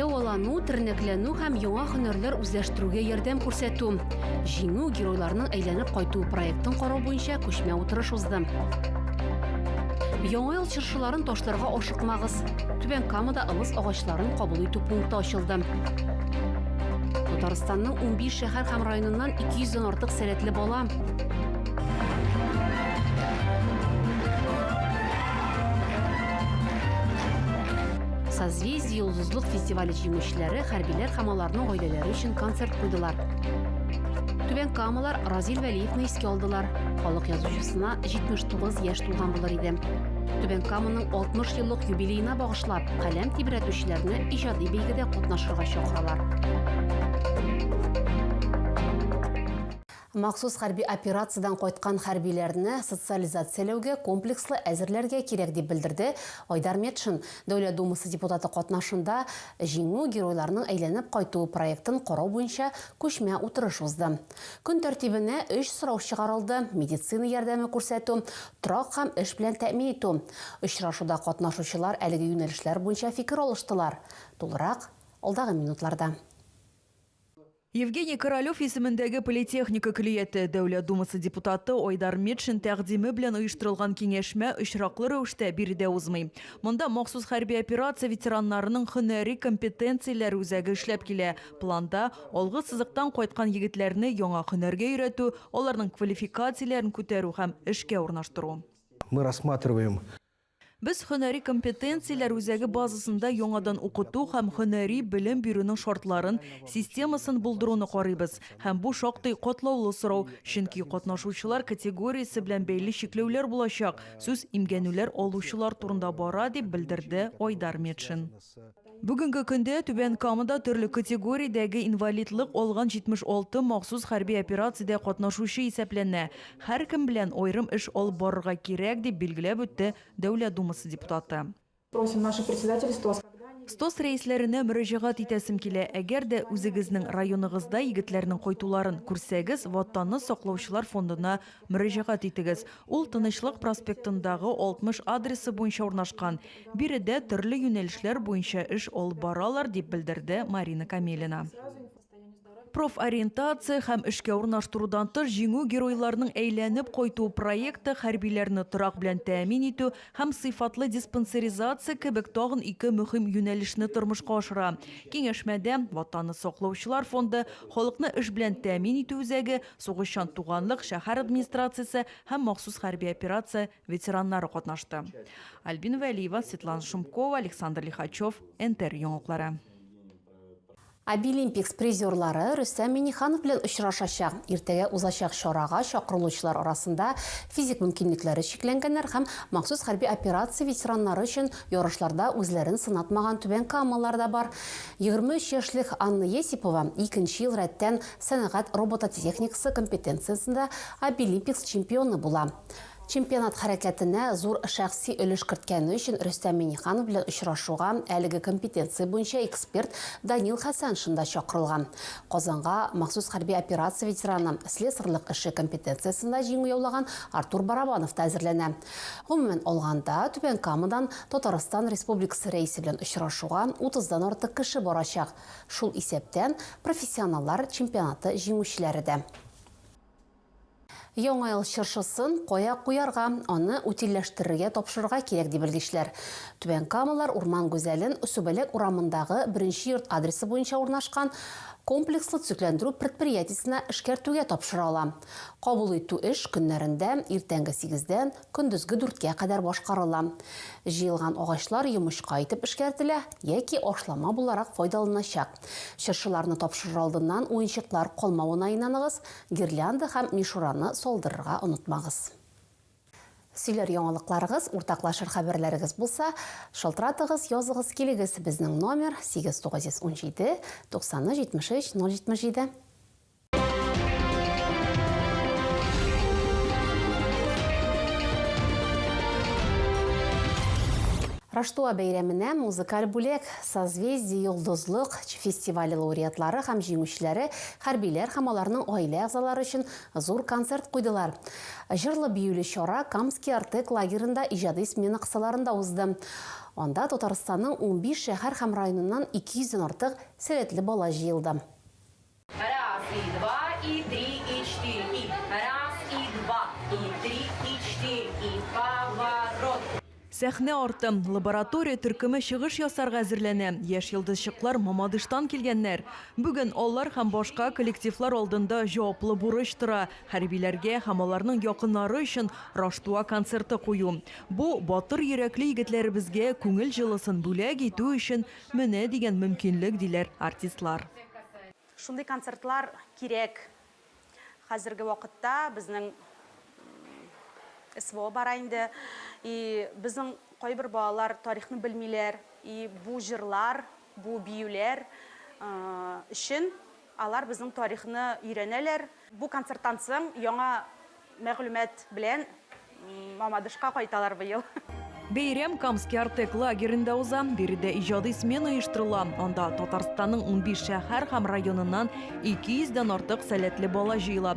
Дәвалану, тернәкләнү һәм яңа һөнәрләр үзләштерүгә ярдәм күрсәтү. Җиңү геройларының әйләнеп кайту проектын карау буенча күчмә утырыш узды. Яңа ел чыршыларын ташларга ашыкмагыз. Түбән Камада ылыс агачларын кабул итү пункты ачылды. Татарстанның 15 шәһәр һәм районыннан 200 дән артык сәләтле бала Созвездие йолдызлык фестивале җиңүчеләре хәрбиләр һәм аларның гаиләләре өчен концерт куйдылар. Түбән Камалар Разил Вәлиевны искә алдылар. Халык язучысына 79 яшь тулган булыр иде. Түбән Каманың 60 еллык юбилеена багышлап, каләм тибрәтүчеләрне иҗади бәйгедә катнашырга чакыралар. Махсус хәрби операциядән кайткан хәрбиләрне социализацияләүгә комплекслы әзерләргә кирәк, дип белдерде Айдар Метшин, Дәүләт Думасы депутаты катнашында Җиңү, геройларның әйләнеп кайтуы проектын карау буенча күчмә утырыш узды. Көн тәртибенә өч сорау чыгарылды, медицина ярдәме күрсәтү, торак һәм эш белән тәэмин итү. Очрашуда катнашучылар әлеге юнәлешләр буенча фикер алыштылар. Тулырак, алдагы минутларда. Евгений Королев исемендәге политехника көллияте Дәүләт Думасы депутаты Айдар Метшин тәкъдиме белән оештырылган киңәшмә очраклы рәвештә биредә узмый. Монда махсус хәрби операция ветераннарының һөнәри компетенцияләр үзәге эшләп килә. Планда, алгы сызыктан кайткан егетләрне яңа һөнәргә өйрәтү, аларның квалификацияләрен күтәрү һәм эшкә урнаштыру. Мы рассматриваем Без Һөнәри компетенцияләр үзәге базасында яңадан укыту һәм һөнәри белем бирүнең шартларын, системасын булдыруны карыйбыз. Һәм бу шактый катлаулы сорау, чөнки катнашучылар категориясе белән бәйле чикләүләр булачак, сүз имгәнүләр алучылар турында бара, дип белдерде Айдар Метшин. Бүгенге көндә Түбән Камада төрле категориядәге инвалидлык алган 76 махсус хәрби операциядә катнашучы исәпләнә. Һәркем белән аерым эш алып барырга кирәк, дип билгеләп үтте Дәүләт Думасы депутаты. Просим наше председательство. Стос рәисләренә мөрәҗәгать итәсем килә, әгәр дә үзегезнең районыгызда егетләрнең кайтуларын күрсәгез, Ватанны саклаучылар фондына Мөрәҗәгать итегез. Ул Тынычлык проспектындагы 60 адресы буенча урнашкан. Биредә төрле юнәлешләр буенча эш алып баралар, дип белдерде Марина Камелина. Профориентация һәм эшкә урнаштырудан тыш Җиңү геройларының әйләнеп кайту проекты хәрбиләрне торак белән тәэмин итү һәм сыйфатлы диспансеризация кебек тагын ике мөһим юнәлешне тормышка ашыра. Киңәшмәдә Ватанны саклаучылар фонды, Халыкны эш белән тәэмин итү үзәге, Сугышчан туганлык, шәһәр администрациясе һәм махсус хәрби операция ветераннары катнашты. Альбина Вәлиева, Светлана Шумкова, Александр Лихачев, НТР яңалыклары. Обилимпикс призерлары Рөстәм Миңнеханов белән очрашачак. Иртәгә узачак чарага чакырылучылар арасында физик мөмкинлекләре чикләнгәннәр һәм махсус хәрби операция ветераннары өчен ярышларда үзләрен сынатмаган түбәнкамалылар да бар. 23 яшьлек Анна Есипова икенче ел рәттән Сәнәгать робототехникасы компетенциясендә Обилимпикс чемпионы була. Чемпионат хәрәкәтенә зур шәхси өлеш керткәне өчен Рөстәм Миңнеханов белән очрашуга әлеге компетенция буенча эксперт Данил Хәсәншин да чакырылган. Казанга махсус хәрби операция ветераны, слесарьлык эше компетенциясендә җиңү яулаган Артур Барабанов та әзерләнә. Гомумән алганда, Түбән Камадан Татарстан Республикасы Рәисе белән очрашуга утыздан артык кеше барачак. Шул исәптән, профессионаллар чемпионаты җиңүчеләре дә. Яңа ел чыршысын кая куярга, аны утильләштерергә тапшырырга кирәк, ди белгечләр. Түбән Камалар урман гүзәлен Сүбәләк урамындагы Беренче йорт адресы буенча урнашкан комплекслы төзекләндерү предприятиесенә эшкәртүгә тапшыра ала. Кабул итү эш көннәрендә иртәнге сигездән Көндезге дүрткә кадәр башкарыла. Җыелган агачлар йомычка итеп эшкәртелә яки ашлама буларак файдаланачак. Чыршыларны тапшырыр алдыннан уенчыклар калмавына инаныгыз, гирлянда һәм мишураны салдырырга онытмагыз. Сөйләр яңалыкларыгыз, уртаклашыр хәбәрләрегез булса, шалтыратыгыз, языгыз килегез, безнең номер, 8917, 90 73 077. Раштуа бәйрәменә музыкаль бүләк Созвездие йолдызлык фестивале лауреатлары һәм җиңүчеләре хәрбиләр һәм аларның гаилә әгъзалары өчен зур концерт куйдылар. Җырлы биюле чара Камский Артек лагерында иҗади смена кысаларында узды. Анда Татарстанның унбиш шәһәр һәм районыннан 200 дән артык сәләтле бала җыелды. Раз и два и три и четыре и раз и два и три и четыре и поворот. Сәхнә арты, лаборатория төркеме чыгыш ясарга әзерләнә. Яшь йолдызчыклар Мамадыштан килгәннәр. Бүген алар һәм башка коллективлар алдында җаваплы бурыч тора, хәрбиләргә һәм аларның якыннары өчен Раштуа концерты кую. Бу, батыр йөрәкле егетләребезгә күңел җылысын бүләк итү өчен Менә дигән мөмкинлек, диләр артистлар. Шундый концертлар кирәк. Хәзерге вакытта безнең СВО бара инде. И безнең кайбер балалар тарихны белмиләр. И бу җырлар, бу биюләр өчен. Алар безнең тарихны өйрәнәләр. Бу концерттан соң яңа мәгълүмат белән Мамадышка кайталар быел. Бәйрәм Камский Артек лагеренда уза. Биредә иҗади смена оештырыла. Анда Татарстанның унбиш шәһәр һәм районыннан 200 дән артык сәләтле бала җыела.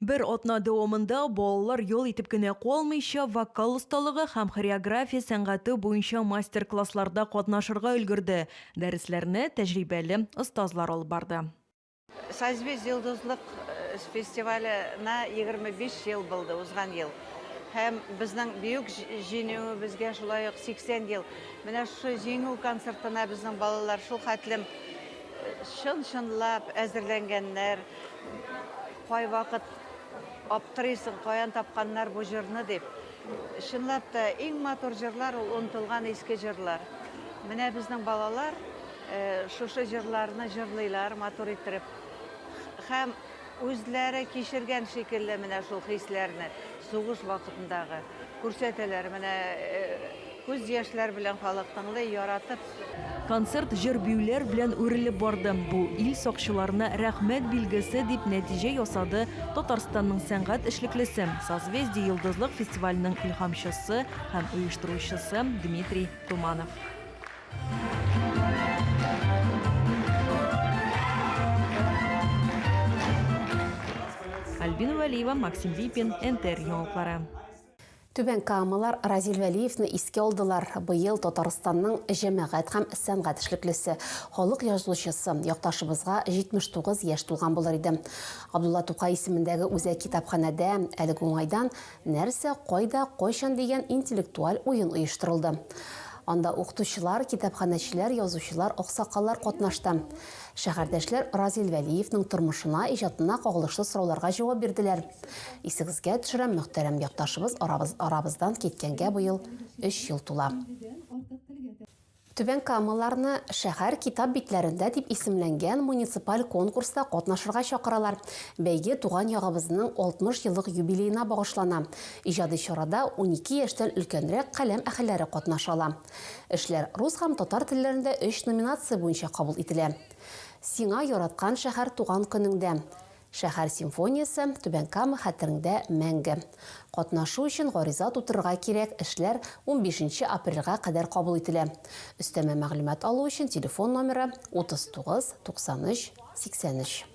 Бер атна дәвамында балалар ял итеп кенә калмыйча, вокал осталыгы һәм хореография сәнгате буенча мастер-классларда катнашырга өлгерде, дәресләрне тәҗрибәле остазлар алып барды. Созвездие йолдызлык фестиваленә егерме биш ел булды узган ел. Һәм безнең Бөек Җиңүебезгә шулай ук сиксән ел. Менә шушы Җиңү концертына безнең балалар шулхәтлем Чын-чынлап әзерләнгәннәр. Кайвакыт аптырыйсың, каян тапканнар бу җырны дип. Чынлап та, иң матур җырлар ул онытылган иске җырлар. Менә безнең балалар шушы җырларны җырлыйлар матур иттереп. Һәм Үзләре кичергән шикелле менә шул хисләрне, сугыш вакытындагы, күрсәтәләр. Менә күз яшьләр белән халык тыңлый, яратып. Концерт җыр-биюләр белән үрелеп барды. Бу, ил сакчыларына рәхмәт билгесе, дип нәтиҗә ясады Татарстанның сәнгать эшлеклесе, Созвездие йолдызлык фестиваленең илһамчысы һәм оештыручысы Дмитрий Туманов. Альбина Вәлиева, Максим Липин, НТР яңалыклары. Түбән Камалар Разил Вәлиевны иске алдылар. Быел Татарстанның җәмәгать һәм сәнгать эшлеклесе, халык язучысы, якташыбызга 79 яшь тулган булыр иде. Габдулла Тукай исемендәге үзәк китапханәдә әлеге уңайдан Нәрсә, кайда, кайчан дигән интеллектуаль уен оештырылды. Анда укытучылар, китапханәчеләр, язучылар, аксакаллар катнашты. Шәһәрдәшләр Разил Вәлиевның тормышына, иҗатына кагылышлы сорауларга җавап бирделәр. Исегезгә төшерәм, мөхтәрәм якташыбыз арабыздан киткәнгә быел өч ел тула. Түбән Камаларны Шәһәр китап битләрендә дип исемләнгән муниципаль конкурста катнашырга чакыралар. Бәйге туган ягыбызның 60 еллык юбилеена багышлана. Иҗади чарада унике яшьтән өлкәнрәк каләм әһелләре катнаша ала. Эшләр рус һәм татар телләрендә өч номинация буенча кабул ителә. Сиңа яраткан шәһәр туган көнеңдә. Шәһәр симфониясе, Түбән Кама хәтереңдә мәңге! Катнашу өчен гариза тутырырга кирәк, эшләр унбишенче апрельгә кадәр кабул ителә. Өстәмә мәгълүмат алу өчен телефон номеры, 39 93 83.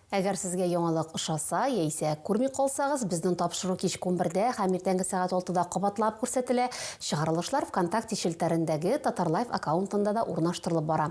Әгәр сезгә яңалык ошаса, яисә күрми калсагыз, безнең тапшыру кичке унбердә һәм иртәнге сәгать алтыда кабатлап күрсәтелә, чыгарылышлар ВКонтакте челтәрендәге Татарлайф аккаунтында да урнаштырылып бара.